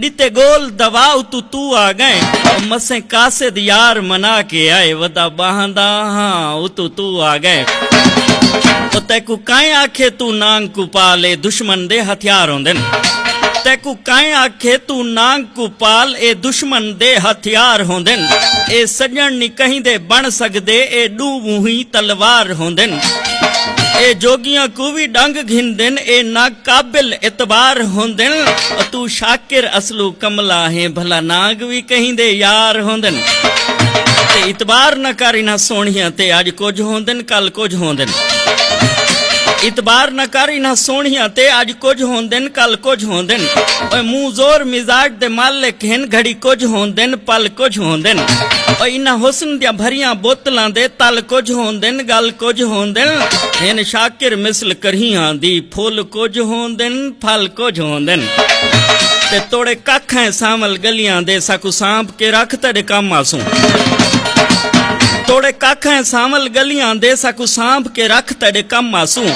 ݙتے ڳول دوا اتوں توں آ ڳئیں او مسیں قاصد یار منا کے آئے ودا ٻانہہ دا ہاں اتوں توں آ ڳئیں او تیکوں کائیں آکھے توں نانگ کوں پال اے دشمن دے ہتھیار ہوندن تیکوں کائیں آکھے توں نانگ کوں پال اے دشمن دے ہتھیار ہوندن اے سڄݨ نی کہیں دے بݨ سڳدے اے ݙوں مونہی تلوار ہوندن اے جوڳیاں کوں وی ݙنگ گھندن اے نا قابل اعتبار ہوندن او توں شاکر اصلوں کملا ہیں بھلا نانگ وی کہیں دے یار ہوندن تے اعتبار نہ کر انہاں سونہیاں تے اج کجھ ہوندن کل کجھ ہوندن اعتبار نہ کر انہاں سونہیاں تے اج کجھ ہوندن کل کجھ ہوندن اوے منہ زور مزاج دے مالک ہن گھڑی کجھ ہوندن پل کجھ ہوندن اوے انہاں حسن دیاں بھریاں بوتلاں دے تل کجھ ہوندن گل کجھ ہوندن ہن شاکر مثل کرہیاں دی پھل کجھ ہوندن پھل کجھ ہوندن تے توڑے ککھ ہیں سانول گلیاں دے ساکوں سانپ کے رکھ تیڈے کم آسوں توڑے ککھ ہیں سانول گلیاں دے ساکوں سانپ کے رکھ تیڈے کم آسوں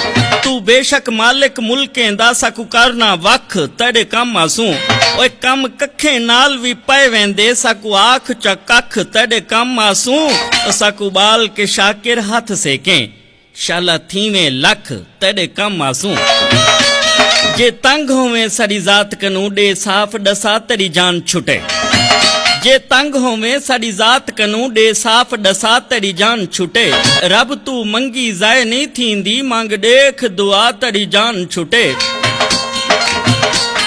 تو بے شک مالک ملکیں دا ساکوں کرنا وکھ تیڈے کم آسوں اوے کم ککھیں نال وی پے ویندے ساکوں آکھ چا ککھ تیڈے کم آسوں ساکوں بال کے شاکر ہتھ سیکیں شالا تھیویں لکھ تیڈے کم آسوں۔ جے تنگ ہوویں ساڈی ذات کنوں ڈے صاف ڈسا تیڈی جان چھٹے۔ جے تنگ ہوویں ساڈی ذات کنوں ڈے صاف ڈسا تیڈی جان چھٹے۔ رب توں منگی ضائع نی تھیندی منگ ڈیکھ دعا تیڈی جان چھٹے۔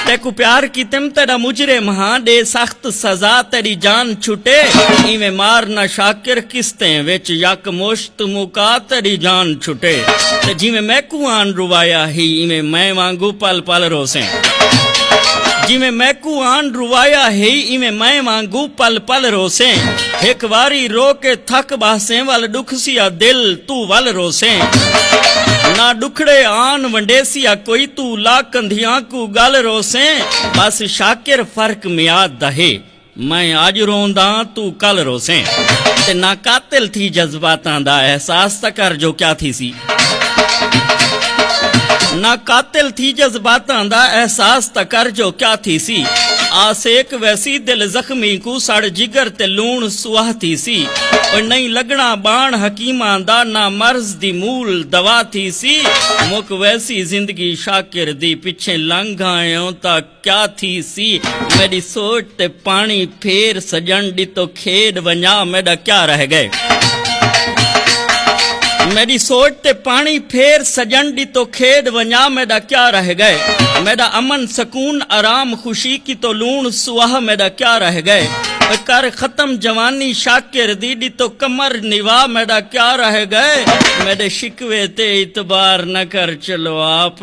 تیکوں پیار کیتم تیڈا مجرم ہاں ڈے سخت سزا تیڈی جان چھٹے۔ ایویں مار نہ شاکر قسطیں وچ یک مشت۔ توں موکا تیڈی جان چھٹے تے جیویں میکوں آن روایا ہی ایویں میں وانگوں پل پل روسیں جیویں میکوں آن روایا ہی ایویں میں وانگوں پل پل روسیں ہک واری رو کے تھک باہسیں ول ڈکھسی آ دل توں ول روسیں نہ ڈکھڑے آن ونڈیسی آ کوئی توں لا کندھیاں کوں گل روسیں بس شاکر فرق میعاد دا ہے میں اج رونداں توں کل روسیں تے نہ قاتل تھی جذباتاں دا احساس تاں کر جو کیا تھیسی نہ قاتل تھی جذباتاں دا احساس تاں کر جو کیا تھیسی آ سیک ویسی دل زخمی کوں سڑ جگر تے لوݨ سواہ تھیسی او نہیں لگنا بان حکیماں دا نہ مرض دی مول دوا تھیسی مک ویسی زندگی شاکر دی پچھیں لنگھ آئیوں تاں کیا تھیسی میڈی سوچ تے پانی پھیر سجن ڈتو کھیڈ ونجا میڈا کیا رہ گئے میری سوچ تے پانی پھیر سجن دی تو کھیڈ ونیا میڈا کیا رہ گئے میڈا امن سکون آرام خوشی کی تو لون سواہ میڈا کیا رہ گئے کر ختم جوانی شاکر دی دی تو کمر نیوا میڈا کیا رہ گئے میڈے شکوے تے اعتبار نہ کر چلو آپ